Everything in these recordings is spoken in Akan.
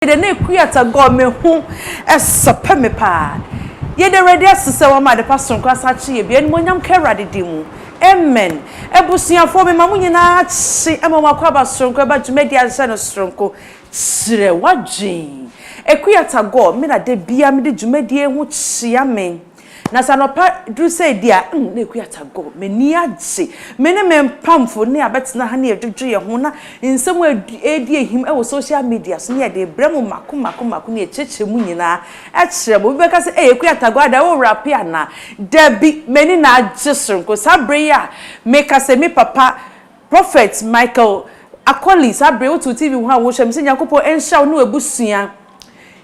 Yɛda ne akuata gɔ me ho sɔpɛ me paa Yɛda Awurade ase sɛ wama ade pa soronko asan akye yɛ bio Animuonyam nka Awurade din mu Amen Abusuafoɔ mema mo nyinaa kye ɛma mo akwaaba soronko ɛba dwumadi a nhyɛ no soronko Kyerɛ w'adwen Akuata gɔ me na da biara mede dwumadie ho kyea me Na sɛ anɔpa duru sɛ di a, mm, na akua ta go. M'ani agye. Me ne me mpamfo ne abɛtena ha ne yɛdwodwo yɛn ho na nsɛm a ɛredi ahim wɔ social media so ne yɛde rebrɛ mo mako mako mako ne yɛkyerɛkyerɛ mu nyinaa kyerɛ mo. Obi bɛka sɛ, Ei, akua ta go, adɛn, worape anaa? Dabi, m'ani na agye soronko. Saa bere yi a meka sɛ me papa Prophet Michael Akoli saa bere wotow TV ho a wohyɛ me sɛ Nyankopɔn nhyira wo ne w'abusua.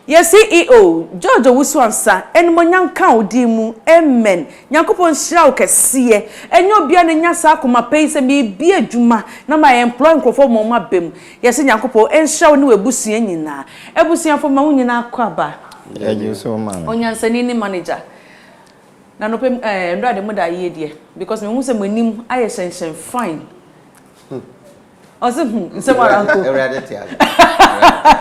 Yɛn CEO George Owusu-Ansah animuonyam nka wo din mu amen. Nyankopɔn nhyira wo kɛseɛ. Ɛnyɛ obiara na enya saa akoma pa yi sɛ merebie adwuma na ma employ nkurɔfoɔ ma wɔaba mu. Yɛse Nyankopɔn nhyira wo ne w'abusua nyinaa. Abusuafo ma wo nyinaa akɔ aba. Yɛgye so ma no. Onyansani ne manager. Na nɔpɛ mu eh nbrade mo da yie deɛ because mehu sɛ mo anim ayɛ hyɛnhyɛn fine ɔse hmm nsɛm ara nko Awurade te ase Awurade te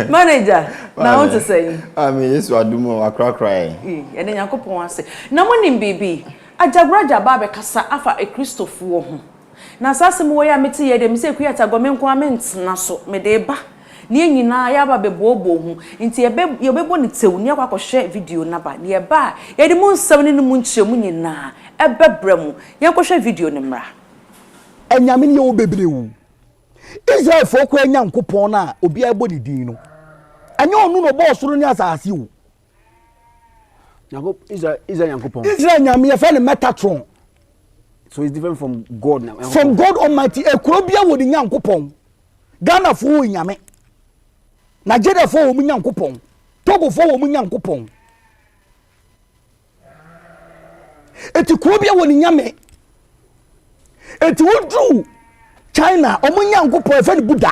ase Manager na wo te sɛn? Ah me Yesu adom o wakorakora yɛn. Ei yɛda Nyankopɔn ase na mo nim biribi Agyagoragya aba abɛkasa afa akristofoɔ ho na saa asɛm wei a mete yɛ deɛ me sɛ Kwiatagɔ me nko ara mentena so mede ba Na yɛn nyinaa yɛaba abɛbooboo ho, enti yɛbɛ, yɛbɛbɔ no tsew na yɛakɔ akɔhwɛ video no aba. Na yɛba a, yɛde mu nsɛm no ne mu nkyerɛmu nyinaa bɛbrɛ mo. Yɛnkɔhwɛ video no mmra. Anyame no yɛ hɔ bebree o. Israelfoɔ koraa Nyankopɔn no a obiara bɔ ne din no, ɛnyɛ ɔno na ɔbɔɔ soro ne asase o. Israel, Israel Nyankopɔn. Israel Nyame yɛfrɛ no Metatron. So it's different from God now. From God Almighty. Ekuro bia wɔ ne Nyankopɔn. Ghana fo wɔ Nyame. Nigeria fo wɔ mu Nyankopɔn. Togo fo wɔ mu Nyankopɔn. Eti kuro bia wɔ ne Nyame. Eti woduru China, ɔmo Nyankopɔn ɛfɛ ne Buddha.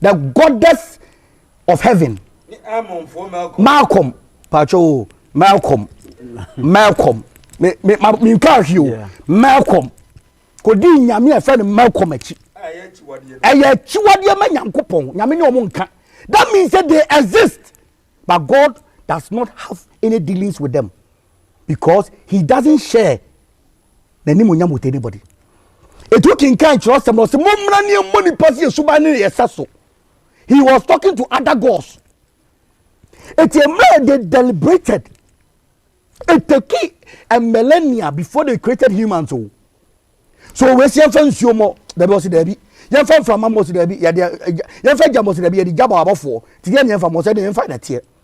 the goddess of heaven malcolm pàtó o malcolm malcolm mi mi ma mi nka ahi o malcolm kò di nyame ẹfẹ ni malcolm ẹkyi ẹyẹ ẹkyiwadeɛ ma nyanko pɔn nyame ni ɔmo nka that means say they exist but god does not have any dealings with them. because he doesn't share n'animuonyam with anybody etu kinkan kyerɛwsɛm na ɔsɛ mo mmra ne mmɔ nipa si esuban ne yɛ sa so he was talking to other gods eti mmerɛ they deliberated it took a millennia before they created humans o oh. so wɔn esi ɛfɛ nsuo mɔ dabi ɔsi dabi yɛn fɛ nframa mɔ ɔsi dabi yɛde yɛn fɛ gya mɔ ɔsi dabi yɛde gya bɔ abɔfoɔ ti yɛn yɛn fa mɔ ɔsɛ de yɛn fa na teɛ.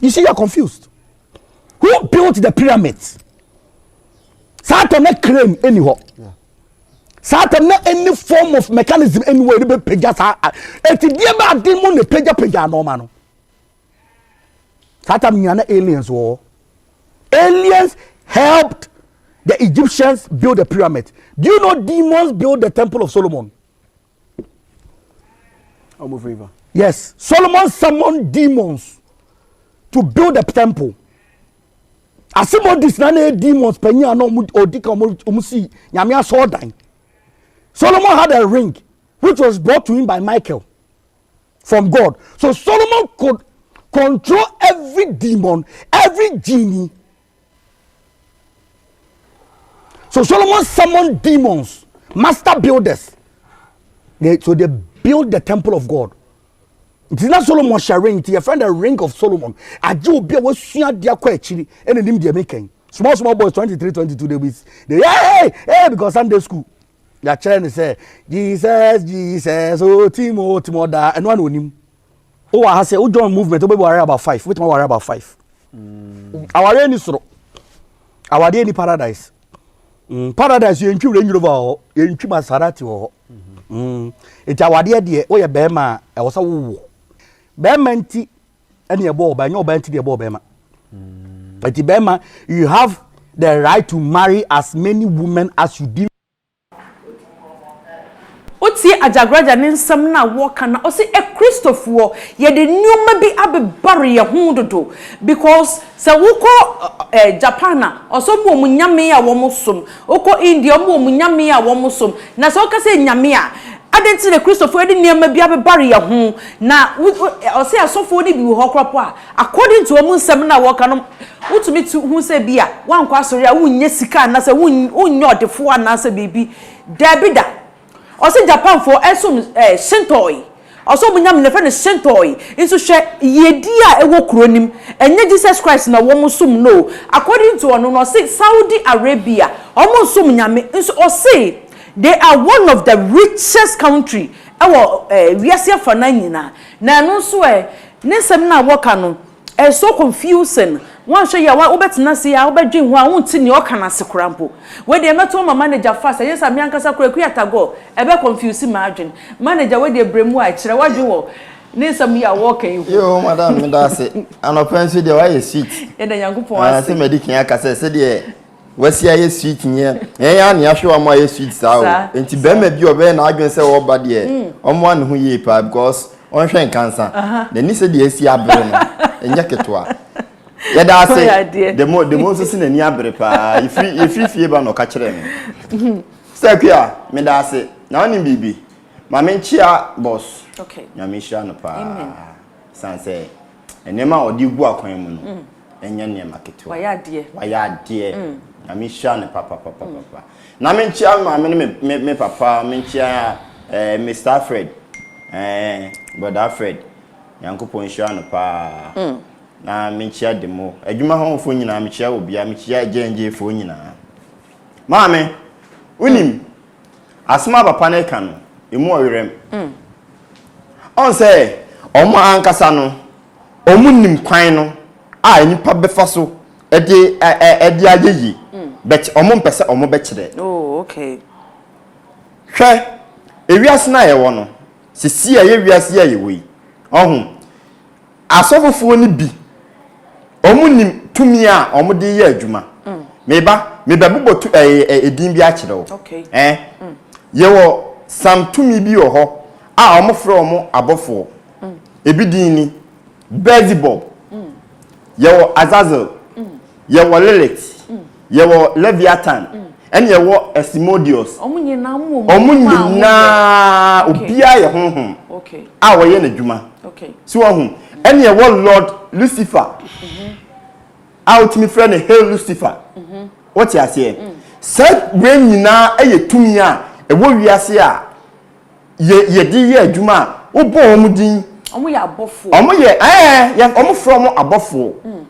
you see you are confused who built the pyramids saa tɛm na crane ɛni hɔ saa tɛm na any form of mechanism ɛni hɔ ɛni bɛ pagya saa ɛti deɛ bɛ adi mu na pagya pagya nɔɔma no saa tɛm nyina na aliens wɔ hɔ aliens helped the egyptians build the pyramid do you know demons build the temple of solomon Yes, Solomon summoned demons to build a temple. Asimodis na na demons panyin a na odi ka wɔn si nyame asɔɔdan. Solomon had a ring which was brought to him by Michael from God. So Solomon could control every demon, every genie. So Solomon summoned demons, master builders. They, so they built the temple of God. nti na solomon hyɛ ring nti yɛfrɛ no ring of solomon agye obi a wasua adeɛ akɔ akyiri ɛna nim deɛ meka yi small small boys 23 22 they be they hey hey because sunday school yɛakyerɛ ne sɛ jesus jesus o oh, timo timo ɔdaa ɛno ana onim Wowɔ ha sɛ wo join movement wobɛbi ware about five wobɛtumi aware about five mm. awareɛ ni soro awadeɛ ni paradise mm. paradise yɛntwi wura nwuro ba hɔ yɛntwi masarati wɔ hɔ mm-hmm. mm. nti awadeɛ deɛ woyɛ bɛrima a ɛwɔ sɛ wowɔ bɛrima nti ɛne ɛbɔ ɔba ɛnyɛ ɔba nti deɛ ɛbɔ ɔbɛrima mm. nti bɛrima you have the right to marry as many women as you deem Wotie Agyagraja ne nsɛm no a wɔka no a, ɔse Akristofoɔ yɛde nnoɔma bi abebare yɛn ho dodo because sɛ wokɔ Japan a, ɔse wɔn wɔ wɔn nyame a wɔn som, wokɔ India wɔn wɔ wɔn nyame a wɔn som, na sɛ woka sɛ nyame a, adɛn nti na Akristofoɔ yɛde nnoɔma bi abebare yɛn ho, na ɔse asɔfoɔ no bi wɔ hɔ koraa mpo a, According to wɔn nsɛm no a wɔka no, wotumi te hu sɛ bi a woankɔ asɔre a wonnya sika anaasɛ wonnyɛ ɔdefoɔ anaasɛ biribi. Daabi da. Ɔse Japanfoɔ ɛsom eh, Shintoi. Ɔse wɔn nyame no yɛfrɛ no Shintoi. Nso hwɛ yiedie a ɛwɔ kuro no mu. Ɛnyɛ Jesus Christ na wɔn som no o. According to ɔno no, ɔse Saudi Arabia, wɔn nsom nyame. Nso ɔse they are one of the richest country ɛwɔ eh, wiase afanaa nyinaa. Na ɛno nso ɛ? Ne nsɛm no a wɔka no, ɛyɛ so confusing, woanhwɛ yie a wobɛtena ase ara wobɛdwen ho ara wonte nea ɔreka no ase koraa mpo. Wei deɛ mɛto ama manager fast, ɛnyɛ saa a me ankasa koraa Akua Tagor ɛbɛ confuse m'adwene. Manager wei deɛ brɛ mu ara kyerɛ w'adwene wɔ ne nsɛm yi a wɔreka yi ho. Yoo madam meda ase. Anɔpa nso deɛ woayɛ sweet. Yɛda Nyankopɔn ase. Ɛɛ sɛ madi kan aka sɛ sɛdeɛ Wasi ayɛ sweet nyɛ ɛyɛ a nea ahwɛ wɔn ayɛ sweet saa o nti bɛrima bi ɔbɛyɛ n'adwene sɛ ɔba deɛ wɔn hmm. a ne ho yie paa because ɔnhwɛ nkansa n'ani sɛ deɛ esi abere no ɛnyɛ ketewa yɛda ase demo demo nso si n'ani abere paa yɛfiri yɛfiri fie ba na ɔka kyerɛ me hmm. sɛ akua meda ase na ɔne biribi maame nkyia bɔs nyame nhyira no paa san sɛ nneɛma a ɔde gu akwan mu no hmm. ɛnyɛ nneɛma ketewa wayɛ adeɛ wayɛ adeɛ mm. nyame hyira ne papapapapa na menkyia me maame ne me, me, me papa menkyia eh, mr fred eh, brother fred nyankopɔn nhyira no paa mm. na menkyia de mo adwuma hɔfoɔ nyinaa mekyia wɔ bia mekyia gyɛngyefoɔ nyinaa maame wonim mm. asɛm a papa no ka no ɛmu ɔwerɛm mm. ɔn sɛ ɔmo ankasa no wɔnim kwan no a nnipa bɛfa so de ɛ ɛ ɛde ayɛ yie mm. but wɔmpɛ sɛ wɔbɛkyerɛ. Oh, okay. hwɛ ewiase no a yɛwɔ no sisi a ɛyɛ wiase a yɛwɔ yi ɔho asɔfofoɔ no bi wɔnim tumi a wɔde yɛ adwuma mm. meba mebɛbobɔ tu ɛɛ eh, ɛdin eh, bi akyerɛ wo ɛɛ mm. yɛwɔ sam tumi bi wɔ hɔ a wɔfrɛ wɔn abɔfoɔ. Ebi din ni, Beelzebub, yɛwɔ Azazel, yɛwɔ Lilith, yɛwɔ Leviathan, ɛne yɛwɔ Asimodeus. Wɔn nyinaa wɔn wɔ mu. Wɔn nyinaa obiara yɛ honhom a wɔyɛ n'adwuma. Si wɔn ho. Ɛne yɛwɔ Lord Lucifer a wotumi frɛ no Hail Lucifer. Wote aseɛ? Saa wei nyinaa yɛ tumi a ɛwɔ wiase a yɛ yɛde yɛ adwuma a wobɔ wɔn din. Wɔn yɛ abɔfoɔ. Wɔn yɛ ɛɛ yɛ wɔn frɛ wɔn abɔfoɔ. Mm.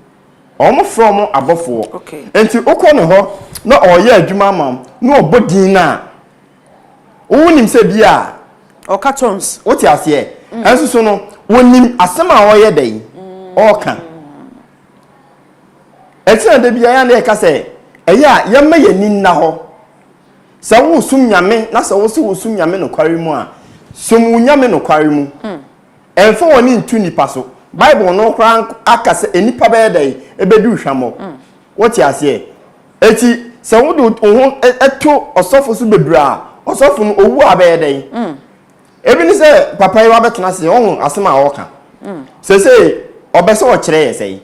Wɔn frɛ wɔn abɔfoɔ. Okay. Nti wokɔ ne hɔ na ɔreyɛ adwuma ama wɔn na ɔbɔ din na wonim sɛ bi a. Ɔka tons. Wote aseɛ. Mm. Ɛnso so no wonim asɛm a ɔreyɛ dɛ yi ɔreka. Ɛkyɛn da bi a yɛn a yɛka sɛ ɛyɛ a yɛmma yɛn ani nna hɔ. Sɛ wo som Nyame na sɛ wo se wo som Nyame nokware mu a, som wo Nyame nokware mu. Ɛmfa w'ani nto nnipa so. Bible no koraa aka sɛ nnipa bɛyɛ dɛn? Ɛbɛdi wo hwammɔ. Wote aseɛ? Eti sɛ wode wo ho to ɔsɔfo so bebree a, ɔsɔfo no owu a bɛyɛ dɛn? Ebi ne sɛ, papa yi wabɛtena ase, woahu asɛm a ɔreka. Seesei ɔbɛ sɛ ɔkyerɛ yɛ sɛn?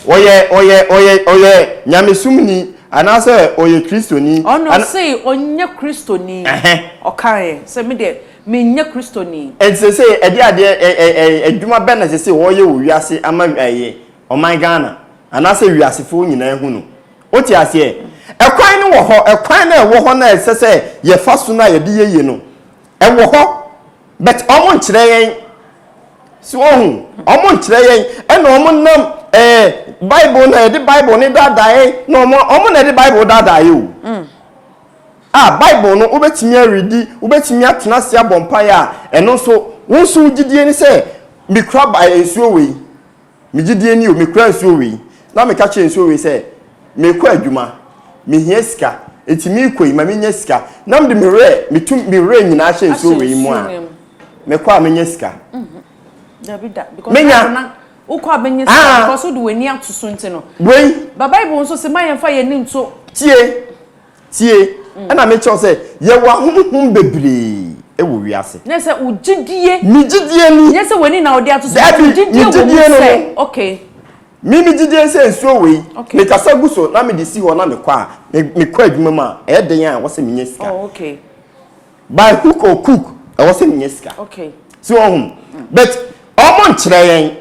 Ɔyɛ, ɔyɛ, ɔyɛ, ɔyɛ Nyamesomni, anaasɛ ɔyɛ Kristoni. Ɔno, ɔsee ɔnyɛ Kristoni. Ɛhɛ. Ɔkaeɛ sɛ, Me deɛ, menyɛ Kristoni. Enti seesei, ɛdeɛ adeɛ, ɛ, ɛ, ɛ, adwuma bɛn na seesei ɔreyɛ wɔ wiase ama, ɛyɛ, ɔman Ghana, anaasɛ wiasefoɔ nyinaa ahu no? Wote aseɛ? Ɛkwan no wɔ hɔ, ɛkwan no a ɛwɔ hɔ no a ɛsɛ sɛ yɛfa so no a yɛde yɛ yie no, ɛwɔ hɔ. But ɔmo nkyerɛ yɛn. So wohu? Ɔmo nkyerɛ yɛn. Ɛna ɔmo nam ɛɛ eh, Bible na yɛde Bible ne daadaa yɛn na ɔmo ɔmo na yɛde Bible daadaa yɛ o. Mm. A Bible no wobɛtumi aredi, wobɛtumi atena ase abɔ mpaeɛ a ɛno nso wo nso wo gyidie ne sɛ mekura ba nsuo wei. Me gyidie ni o, mekura nsuo wei, na meka kyerɛ nsuo wei sɛ, Merekɔ adwuma, mehia sika, enti merekɔ yi, ma mennya sika, na mede me werɛ, metu me werɛ nyinaa hyɛ nsuo wei mu a, mekɔ a mɛnya sika? Dabi da, because Menya. Bible na wokɔ a bɛnya sika, Ah. because wode w'ani ato so nti no. Wei, But Bible nso se ma yɛmfa yɛn ani nto tie, Tie, ɛna mekyerɛ wo sɛ yɛwɔ ahonhom bebree wɔ wiase. Nyɛ sɛ wo gyidie. Me gyidie ni. Nyɛ sɛ w'ani na wode ato so. Dabi, me gyidie no no. Okay. Me me gyidie nsɛ nsuo wei. Okay. Me kasa gu so na me de si hɔ na me kɔ a, me me kɔ adwuma mu a, ɛyɛ den a ɛwɔ sɛ me nya sika. Oh, okay. By hook or cook, ɛwɔ sɛ me nya sika. Okay. Si wɔn ho. But wɔn nkyerɛ yɛn.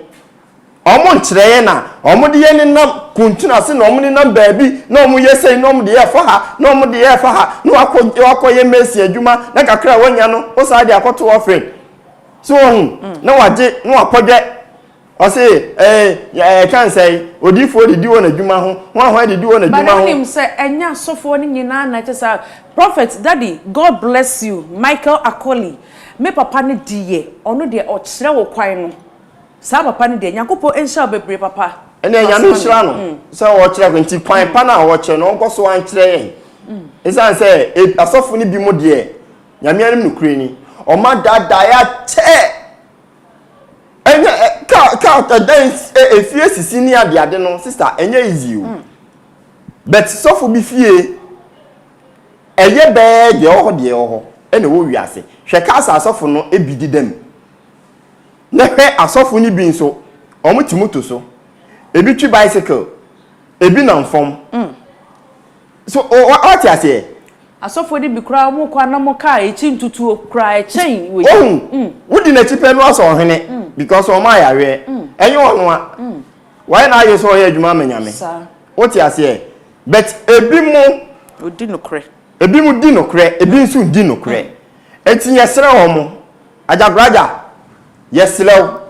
Wɔn nkyerɛ yɛn a wɔn de yɛn nenam kuntun ase na wɔn nenam baabi na wɔn yɛ sɛyi na wɔn de yɛ fa ha na wɔn de yɛ fa ha na wakɔ wakɔ yɛ mɛsi adwuma na kakra a wɔnya no wɔsan de akɔto ɔfin so wɔn mm. na wagye na wakɔdwɛ ɔse ɛɛ eh, ɛka eh, nsɛn odiifoɔ de di wɔn adwuma ho wɔn ahoɛ de di wɔn adwuma ho. bana nim sɛ ɛnyɛ asɔfoɔ no nyinaa na ɛkyɛ sɛ prophet daddy god bless you michael akoli me papa no di yɛ ɔno deɛ ɔkyerɛ wo kwan no Saa papa no deɛ nyankopɔn nhyira wo bebree papa. Ɛnna nyame nhyira no sɛ ɔkyerɛ kwan nti kwan pa na ɔkyerɛ no ɔnkɔ so ankyerɛ yɛn. Esan sɛ asɔfo no bi mo deɛ nyame anim no kure ni ɔma daadaa yɛ akyɛ. Ɛnyɛ ka ka ɛdan efie sisi ne ade ade no sister ɛnyɛ easy o. But sɔfo bi fie ɛyɛ bɛɛ deɛ ɔwɔ hɔ deɛ ɔwɔ hɔ ɛna ɛwɔ wiase. Hwɛ ka sɛ asɔfo no ebi deda mu. Na hwɛ asɔfo no bi nso, wɔte moto so, ebi twi bicycle, ebi nam fam. Mm. So wate aseɛ? Asɔfo no bi koraa wɔn kɔ anam kaa akyi ntutuo koraa ɛkyɛn wei. Ohun, mm. wodi n'akyi pɛ no asɔ ɔhene mm. because wɔn ayareɛ. Mm. Ɛnyɛ wɔn a. Mm. Wɔayɛ na ayɛ sɛ ɔyɛ adwuma ama nyame. Saa. Wote aseɛ? But ebi mo. Odi nokorɛ. Ebinom di nokorɛ, ebi nso nni nokorɛ. Enti yɛsrɛ wɔn, Agyagoraagya, yɛsrɛ wo,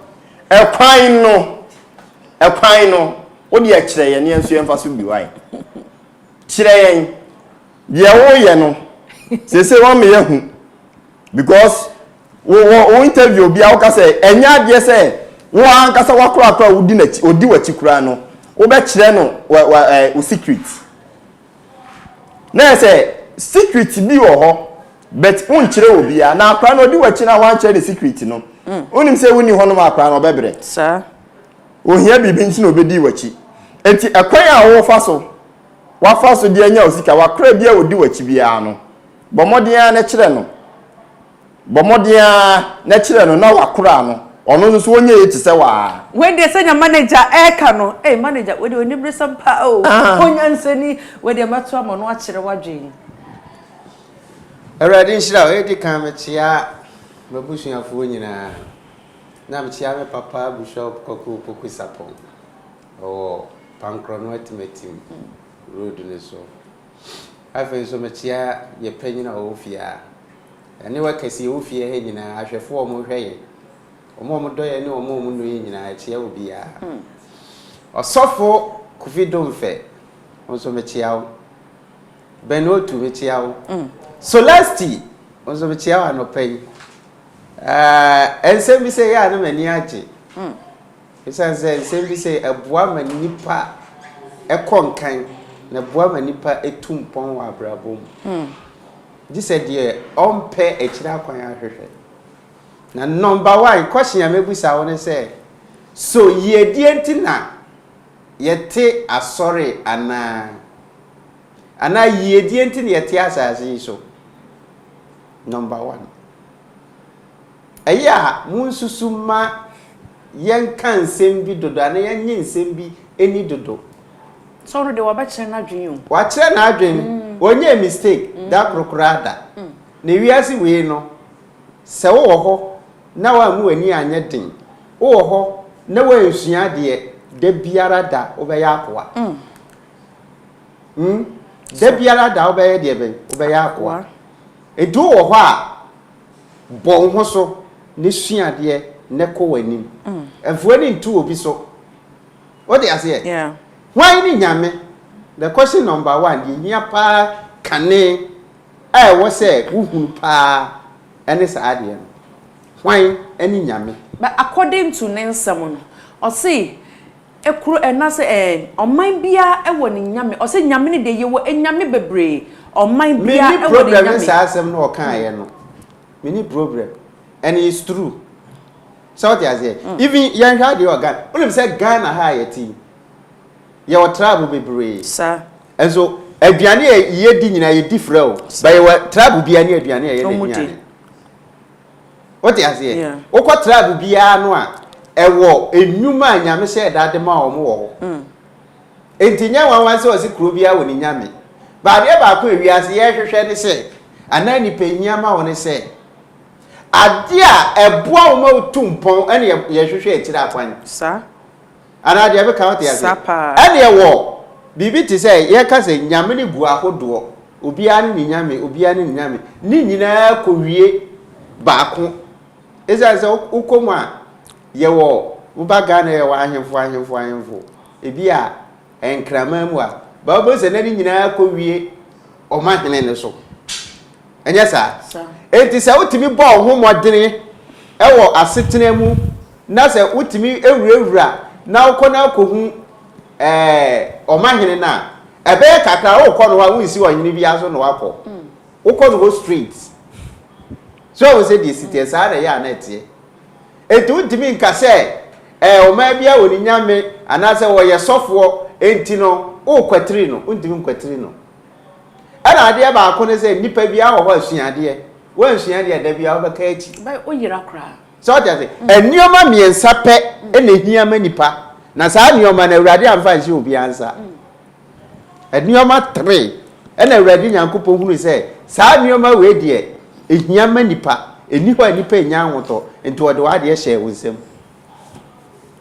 ɛkwan no, ɛkwan no, wo deɛ kyerɛ yɛn na yɛn nso yɛmfa so bi wo ayɛ. Kyerɛ yɛn deɛ woreyɛ no. Seesei woama yɛahu because wo, wo, wo interview obiara woka sɛ ɛnyɛ adeɛ sɛ wo ankasa w'akorakoa a wodi n'akyi, odi w'akyi koraa no, wobɛkyerɛ no wo, wo, eh, wo secret. Na yɛ sɛ secret bi wɔ hɔ but wonkyerɛ obiara na akora no ɔdi w'akyi na wankyerɛ ne secret no wonim mm. sɛ wonni hɔ nom akora no ɔbɛbrɛ saa ohia biribi nti na obedi w'akyi eti ɛkwan a wɔfa so wafa so de anya osika wakora bi a odi w'akyi biara no bɔ mmɔden ara na kyerɛ no Bɔ mmɔden ara na kyerɛ no na wakora no, ɔno nso so ɔnyɛ yie te sɛ wo ara. Wei deɛ sɛnea manager ɛreka no ei manager wei deɛ oniberesɛm paa o onyansani wei deɛ mɛto ama no akyerɛ w'adwen. Awurade nhyira wo. Edi kan mekyea m'abusuafoɔ nyinaa na mekyea me papa Bishop Kwaku Opoku Sarpong ɔwɔ Pankrɔno Atimatim road no so. Afei nso mekyea yɛn panyin a ɔwɔ fie ha. Ɛne wɔ kɛse ɛwɔ fie ha nyinaa, ahwɛfoɔ a wɔn hwɛ yɛn, wɔn a wɔn dɔ yɛn ne wɔn a wɔn nnɔ yɛn nyinaa, ɛkyea obiara. Ɔsɔfo Kofi Domfɛ, wo nso mekyea wo. Ben Otu, mekyea wo. Solasty, wo nso mekyea wo anɔpa yi. Ɛɛ, nsɛm bi sɛ yɛ a na m'ani agye. Ɛsiane sɛ nsɛm bi sɛ ɛboa ma nipa ɛkɔ nkan, na ɛboa ma nipa ɛtu mpɔn wɔ abrabɔ mu. Gye sɛ deɛ ɔmpɛ akyire akwan ahwehwɛ. Na number one question a mɛbusa wo ne sɛ, so yiedie nti na yɛte asɔre anaa? Anaa yiedie nti na yɛte asase yi so? Number one. Ɛyɛ a munsusu mma yɛnka nsɛm bi dodo anaa yɛnnye nsɛm bi nni dodo. Saulo deɛ wabɛkyerɛ n'adwene o. Wakyerɛ n'adwene, ɔnyɛɛ mistake da koro koraa da. Ne wiase wei no, sɛ wowɔ hɔ na woammu w'ani anyɛ den, wowɔ hɔ na woansua adeɛ, da biara da wobɛyɛ akoa. Hmm, da biara da wobɛyɛ deɛ bɛn? Wobɛyɛ akoa. Nti wowɔ hɔ a, Bɔ wo ho so na sua adeɛ na kɔ w'anim. Mfa w'ani nto obi so. Wote aseɛ? Hwan ne Nyame? The question number one, deɛ ɛhia paa kane a ɛwɔ sɛ wohunu paa ne saa adeɛ no. Hwan ne Nyame? But according to ne nsɛm no, ɔse, Koro ɛna sɛ ɛɛ ɔman biaa ɛwɔ ne nyame ɔsɛ nyame no deɛ yɛwɔ ɛnyame bebree ɔman biaa ɛwɔ ne nyame. Menni problem ne saa asɛm no ɔkaeɛ no menni problem and it's true sɛ wote aseɛ even yɛnhwɛ adeɛ wɔ Ghana wonim sɛ Ghana ha a yɛte yi yɛwɔ tribe bebree nso aduane a yɛdi nyinaa yɛdi frɛ o but yɛwɔ tribe biaa ne aduane a ɛyɛ n'aduane. Wote aseɛ? Yeah. Wokɔ tribe biara no a, ɛwɔ nnwuma a Nyame hyɛɛ da de ma wɔn wɔ hɔ. Mm. Enti nyɛ nwanwa sɛ ɔse kuro biara wɔ ne Nyame. Ba adeɛ baako a wiase yɛhwehwɛ ne sɛ, anaa nipa hia ma wo ne sɛ, adeɛ a ɛboa wo ma wotu mpɔn ɛne yɛhwehwɛ akyire akwan. Saa. Anaa deɛ meka wote aseɛ? Sa paa. Ɛneɛ wɔ biribi te sɛ yɛka sɛ nyame no gu ahodoɔ, obiara ne ne nyame, obiara ne ne nyame, ne nyinaa kɔwie baako. Ɛsiane sɛ wokɔ mu a yɛwɔ woba Ghana yɛwɔ ahemfo ahemfo ahemfo ebi a nkraman mu a baa wobɛhu sɛ na ne nyinaa kɔwie ɔmahene no so. Ɛnyɛ saa? Enti sɛ wotumi bɔ wo ho mmɔden wɔ asetena mu na sɛ wotumi wurawura na wokɔ na akohu ɛɛ ɔmahene no a, ɛbɛyɛ kakra wokɔ no hɔ a wonsi ɔhene biara so na wakɔ. Mm. Wokɔ no hɔ straight. So wo sɛ deɛ si teɛ saa na ɛyɛ a na ɛteɛ. Enti wontumi nka sɛ ɛɛ ɔman biara wɔ ne nyame anaasɛ wɔyɛ sɔfoɔ enti no wokwatiri no, wontumi nkwatiri no. Ɛna adeɛ baako ne sɛ nipa biara wɔ hɔ a sua adeɛ. Woansua deɛ da biara wobɛka akyi. Bɛyɛ woyera koraa. Sɛ wote ase? Nneɛma mmiɛnsa pɛ na ehia ma nipa, na saa nneɛma no Awurade amfa anhyɛ obiara nsa. Nneɛma three ɛna Awurade Nyankopɔn hunu sɛ saa nneɛma wei deɛ ehia ma nipa. Ɛnni hɔ a nipa nnya ahotɔ, nti ɔde w'adeɛ hyɛɛ wo nsam.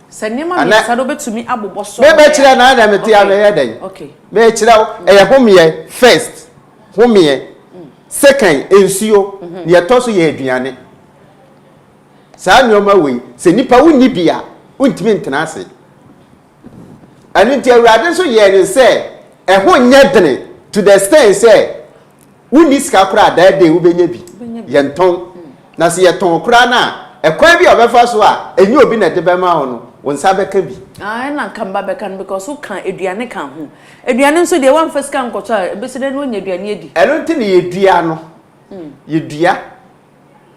Sɛ nneɛma mmiɛnsa no bɛtumi abobɔ so. Mebɛkyerɛ na na mete a mɛyɛ dɛn? Mekyerɛ wo, ɛyɛ homeɛ first, homeɛ, second nsuo, deɛ ɛtɔ so yɛ aduane. Saa nneɛma wei, sɛ nipa wonni bi a, wontumi ntena ase. Ɛno nti Awurade nso yɛɛ no sɛ ɛho nyɛ dene to the extent sɛ wonni sika koraa daa dɛn wobɛnya bi. Yɛntɔn. Na sɛ yɛtɔn koraa no a, ɛkwan bi a ɔbɛfa so a ɛnyɛ obi na ɛde bɛma wo no, wo nsa bɛka bi. Ah, ɛna nka mba bɛka no because woka aduane ka ho. Aduane nso deɛ woamfa sika nkɔtɔ a, ɛbɛsi dɛn na woanya aduane adi? Ɛno nti na yɛdua no. Yɛdua.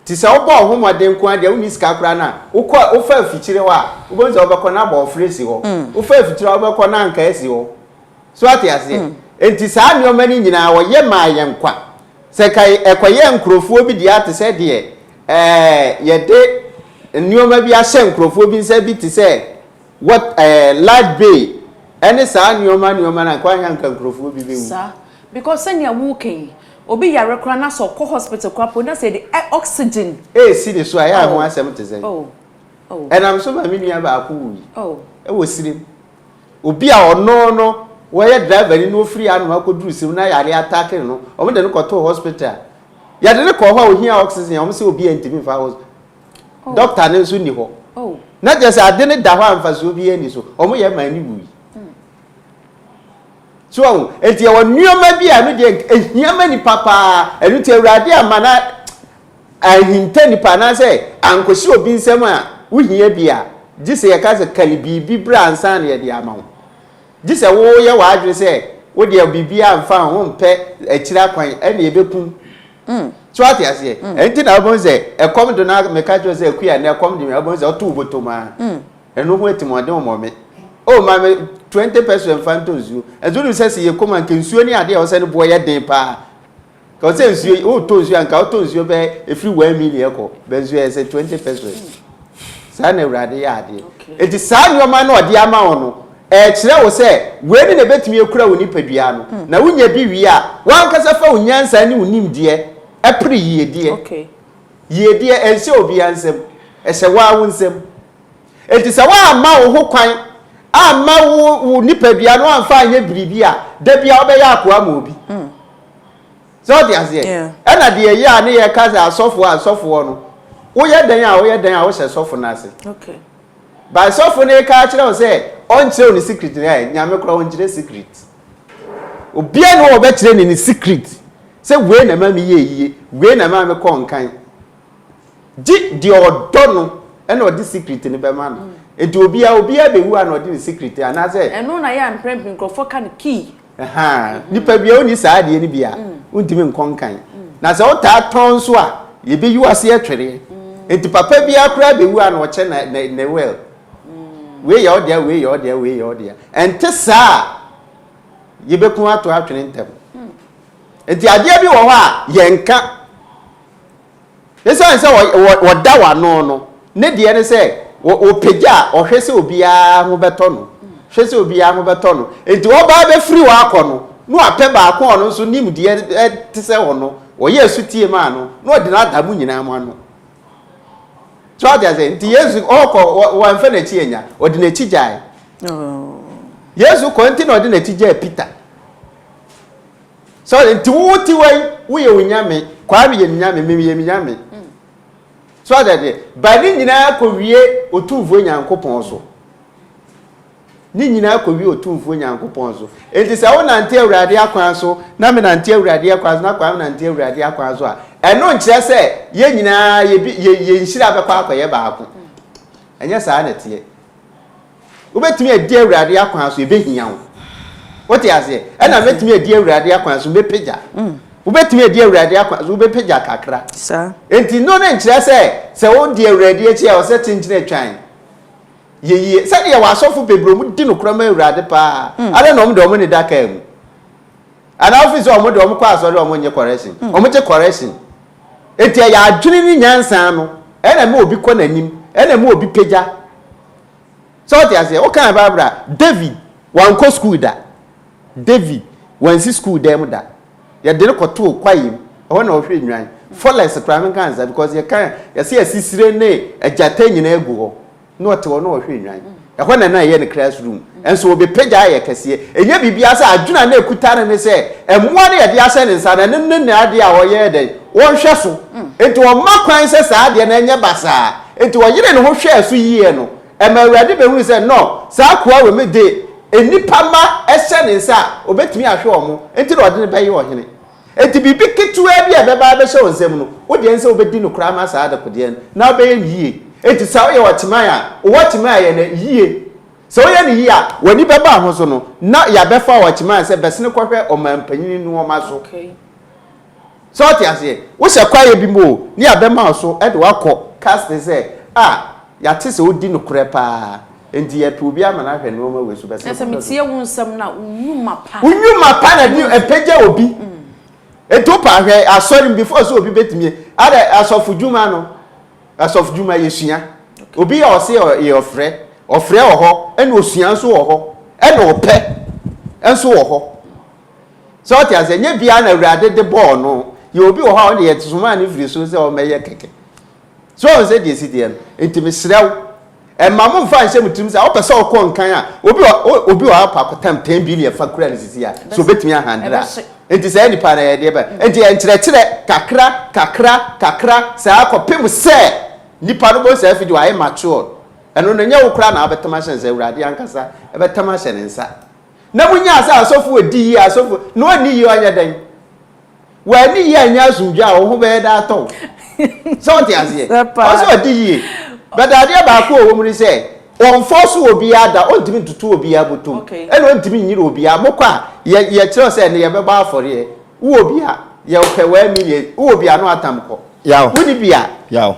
Ntsi sɛ wobɔɔ woho mbɔdzen nko ara dɛ wonnyi sika koraa no a, wokɔr, wofaa efikyir hɔ a, wobɔhu dza wɔbɛkɔ no abɔwfrɛ esi hɔ. Wofaa efikyir hɔ a, wɔbɛkɔ no ankaa esi hɔ. So atse aseɛ? Ntsi saa nneɛma no nyina wɔyɛ maa hɛn kwa. Sɛ nka ɛkɔyɛɛ nkorɔfoɔ bi deɛ a te sɛ deɛ ɛɛ yɛde nneɛma bi ahyɛ nkorɔfoɔ bi nsa bi te sɛ what ɛɛ light bay ɛne saa nneɛma nneɛma no a nka anka nkorɔfoɔ bi bɛwu. Saa because sɛnea woka yi. Obi yare koraa na sɛ ɔkɔ hospital koraa mpo na sɛ yɛde ɛ oxygen. Esi ne so a, ɛyɛ a ho asɛm te sɛn? Ɛnam so ma me nua baako wui wɔ Sirim. Obi a ɔno no wɔyɛ driver ni na ofiri Ano akɔduru Sirim na yare ataake no, wɔde no kɔtoo hospital. Yɛde no kɔɔ hɔ a ohia oxygen a, wɔse obiara ntumi mfa hos. Doctor no nso nni hɔ. Na kyerɛ sɛ ade no da hɔ a mfasoɔ biara nni so. Wɔyɛ maa no wui. So ahu? Enti ɛwɔ nneɛma bi a ɛno deɛ ehia ma nipa paa. Ɛno nti Awurade amma na anhinta nipa anaasɛ ankɔhyɛ obi nsam a wohia bi a, gye sɛ yɛka sɛ kari biribi bra ansa na yɛde ama wo. Gye sɛ woyɛ w'adwene sɛ wo deɛ biribiara mfa ho, wompɛ akyiri akwan, ɛnna yɛbɛkum. So ate aseɛ? Ɛnti na wobɛhu sɛ ɛkɔm de no a meka kyerɛ wo sɛ akua nnɛ ɛkɔm de me a wobɛhu sɛ ɔtow bɔtɔm ara. Eno ho atimoɔden mmɔ me. Oh ma me twenty peso mfa ntɔ nsuo. Ɛnso wonim sɛ se yɛ kɔm a nka nsuo ne adeɛ a ɛwɔ sɛ ne boɔ yɛ den paa. Ka ɔsɛ nsuo yi wotɔ nsuo a nka wotɔ nsuo bɛ ɛfiri one million kɔ bɛ nsuo yɛ sɛ twenty pesos. Saa na awurade yɛ adeɛ. Okay. Eti saa nneɛma no ɔde ama wo no ɛkyerɛ wo sɛ wei ne na ɛbɛtumi akura wo nipadua no hmm. na wonya bi wie a wankasa fa wo nyansa ne wo nimdeɛ ɛpere yiedeɛ. Okay. Yiedeɛ ɛnhyɛ obiara nsam ɛhyɛ waa wo nsam. Enti sɛ woamma wo ho kwan amma wo wo nipadua no amfa anyɛ biribi a, da bia wobɛyɛ akoa ma obi. Sɛ ɔde aseɛ, ɛna deɛ ɛyɛ a ne yɛ ka sɛ asɔfoɔ asɔfoɔ no, woyɛ dɛn a woyɛ dɛn a wohyɛ sɔfo no ase. By sɔfo no ka akyerɛ wo sɛ ɔnkyerɛ wo ne secret no ɛ, nyame kora ɔnkyerɛ secret. Obia ne wɔbɛkyerɛ ne ne secret sɛ wei na ma meyɛ yie, wei na ma mekɔ nkan. Gye deɛ ɔdɔ no ɛna ɔde secret no bɛma no. Enti obiara obiara bɛwu a na ɔde ne secret anaa sɛ. Ɛno na yɛ a mprɛn pii nkorɔfoɔ ka no kii. Ahaa nipa biara ɔnni saa adeɛ no bi a wontumi nkɔ nkan. Na sɛ wotaa tɔn nso a yɛbɛyi wo aseɛ twereɛ. Enti papa biara koraa bɛwu a na ɔkyɛ na na ne will. Wei yɛ ɔdea wei yɛ ɔdea wei yɛ ɔdea. Ɛnte saa a yɛbɛku ato atwene ntɛm. Enti adeɛ bi wɔ hɔ a yɛnka. Esiane sɛ wɔda wo ano no, ne deɛ ne sɛ ɔpagya a ɔhwɛ sɛ obiara ho bɛtɔ no, hwɛ sɛ obiara ho bɛtɔ no. Enti wɔbaa bɛfiri hɔ akɔ no, na wapɛ baako a ɔno nso nim deɛ ɛte sɛ hɔ no, ɔyɛ asutie maa no, na ɔde no ada mo nyinaa mo ano. So ate aseɛ? Nti Yesu ɔkɔ, wɔamfa n'akyi anya, ɔde n'akyi gyae. Oh. Yesu kɔ nti na ɔde n'akyi gyae Peter. Sɛ nti wo ti wɔ yi woyɛ onyame kwame yɛ nyame mimi yɛ nyame so ada deɛ ba ne nyinaa kɔ wie otumfuo nyankopɔn so ne nyinaa kɔ wie otumfuo nyankopɔn so nti sɛ wo nante awurade akwan so na me nante awurade akwan so na kwame nante awurade akwan so a ɛno nkyerɛ sɛ yɛ nyinaa yɛ nhyira bɛkɔ akɔyɛ baako ɛnyɛ saa na ɛteɛ Wobɛtumi adi Awurade akwan so, ɛbɛhia wo. Wote aseɛ? Ɛna mɛtumi adi Awurade akwan so, mɛpagya. Mm. Wobɛtumi adi Awurade akwan so, wobɛpagya kakra. Enti no ne nkyerɛ sɛ, sɛ wodi Awurade akyi a, ɔsɛ tenkyene atwan. Yɛyie. Sɛdeɛ wɔ asɔfo bebree ɔmo di nokorɛ ma Awurade paa. Mm. Adɛ na ɔmo de ɔmo ne da kaa mu. Anaa wofi sɛ ɔmo de ɔmo kɔ asɔre ɔmo nye correction. Mm. Ɔmo gye correction. Enti ɛyɛ adwene ne nyansa no. Ɛna ma obi kɔ n'anim. Ɛna ma obi pagya. So ɔte aseɛ? Wo kan Bible a, David wankɔ school da. David wansi school dan mu da. Yɛde no kɔtoo kwaeɛ mu. Ɛhɔ na ɔhwɛ nnwan. Forest koraa no nka nsa because yɛ kan yɛsɛ asisire ne agyata nyinaa gu hɔ. Na ɔte hɔ na ɔhwɛ nnwan. Ɛhɔ na na ɛyɛ ne classroom. Ɛnso ɔbɛpagya ayɛ kɛseɛ. Ɛnyɛ biribiara sɛ adwene a na ɛkuta no ne sɛ mmoa no yɛde ahyɛ ne nsa no ɛno ne n'adeɛ a ɔyɛ dɛn? Ɔhwɛ so. Nti ɔmma kwan sɛ saa adeɛ no ɛnyɛ basaa. Enti ɔyeree ne ho hwɛɛ so yiye no, ɛma Awurade behui sɛ, No, saa akoa wei me de nnipa mma hyɛ ne nsa a, obetumi ahwɛ wɔn, enti na ɔde no bɛyɛ ɔhene. Enti biribi ketewaa bi a ɛbɛba abɛhyɛ wo nsam no, wo deɛ ɛne sɛ wobedi no koraa ma saa adekodeɛ no, na wobɛyɛ no yiye. Enti sɛ woyɛ ɔkyeman a, wowɔ ɔkyeman a ɛyɛ no yiye. Sɛ woyɛ no yiye a, w'ani bɛba ho so no, na yɛabɛfa wo ɔkyeman sɛ bɛsene kɔhwɛ ɔmanpanyin nnoɔma so. So ɔte aseɛ? Wohyɛ kwaeɛ bi mu o, ne yɛabɛma wo so de wo akɔ casting sɛ, a, yɛate sɛ wodi nokorɛ pa ara, enti yɛrepe obi ama no ahwɛ nnoɔma wei so, bɛsrɛ Nanso mɛtie wo nsɛm no a, wo nnwuma pa. Wo nnwuma pa na ɛde, ɛpagya obi. Enti wo pa, hwɛ asɔre mu, before sɛ obi bɛtumi, ada, asɔfodwuma no, asɔfodwuma, yɛsua. Obi a ɔse ɔyɛ ɔfrɛ, ɔfrɛ wɔ hɔ, ɛna osua nso wɔ hɔ, ɛna ɔpɛ nso wɔ hɔ. So ɔte aseɛ? Nyɛ biara na Awurade de bɔɔ no. Yɛ obi wɔ hɔ a ɔde yɛ somaa no firi soro sɛ ɔmmɛyɛ kɛkɛ. So ɔn sɛ deɛ ɛsi deɛ no? Nti mesrɛ wo, ɛma mo mfa nhyɛ mo tirim sɛ ɔpɛ sɛ ɔkɔ nkan a, obi wɔ obi wɔ hɔ apɔ akɔtam 10 billion fa kura no sisi a, so obetumi ahandle a? Nti saa nipa no ɛyɛ deɛ bɛn? Nti yɛ nkyerɛkyerɛ kakra, kakra, kakra saa kɔpem sɛ nipa no bɔ saa fidi wayɛ matured. Ɛno no nyɛ wo koraa na wabɛtam ahyɛ ne nsa, Awurade ankasa ɛbɛtam ahyɛ ne nsa. Na munyaa sɛ asɔfo a edi yie, asɔfo na wɔanni yie anyɛ dɛn? Wɔanni yie anyɛ asomdwoe a wo ho bɛyɛ dɛ atɔ wo. Sɛ wote aseɛ? Ɔwɔ sɛ wɔdi yie. But adeɛ baako a ɛwɔ mu ne sɛ, wɔnfɔɔso obiara da, wɔntumi ntoto obiara bɔtom, ɛna wɔntumi nnyere obiara. Mokɔ a, yɛ, yɛkyerɛw sɛ ɛnnɛ yɛbɛbɔ afɔreɛ. Wowɔ bi a, yɛpɛ one million. Wowɔ bi a, na wɔatam kɔ. Yaw. Wonni bi a. Yaw.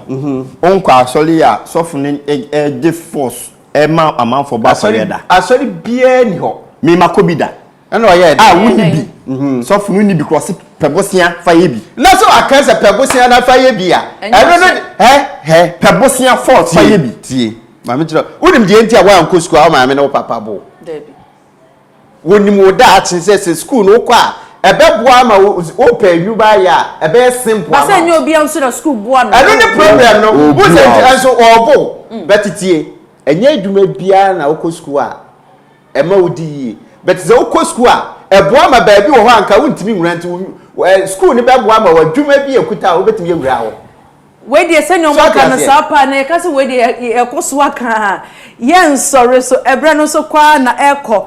Wonkɔ asɔre a sɔfo no gye force ɛma amanfoɔ bɔ afɔreɛ da. Asɔre biara ni hɔ. Me ma kɔ bi da. Ɛna ɔyɛ ɛdɛ. A wonni bi. Mhm. Sɔfo no nni bi kora ɔse pɛ bosea fa yɛ bi. Na sɛ ɔaka sɛ pɛ bosea na fa yɛ bi a. Ɛno no hɛ hɛ. Pɛ bosea fɔs fa yɛ bi. Tie maame kyerɛ wonim deɛ nti a woankɔ sukuu a wo maame ne wo papa boo. Dabi. Wonim wo daakye sɛ sɛ sukuu no wokɔ a ɛbɛboa ama wo wopɛ adwuma ayɛ a ɛbɛyɛ simple ama wo. Basa nyɛ obia nso na sukuu boa no. Ɛno ne problem no wohu sɛ nti nso ɔɔbo wo but tie ɛnyɛ adwuma biara na wokɔ sukuu a ɛma wodi yie but sɛ wokɔ sukuu a ɛboa ma baabi wɔ hɔ a nka wontumi nwura nti sukuu no bɛboa ama wo adwuma bi a ɛkuta a wobɛtumi awura hɔ. Wei deɛ sɛnea So wɔn ate aka no aseɛ? saa paa na yɛka sɛ wei deɛ yɛ yɛkɔ so aka a yɛnsɔre so ɛbrɛ no nso kɔ ara na ɛkɔ.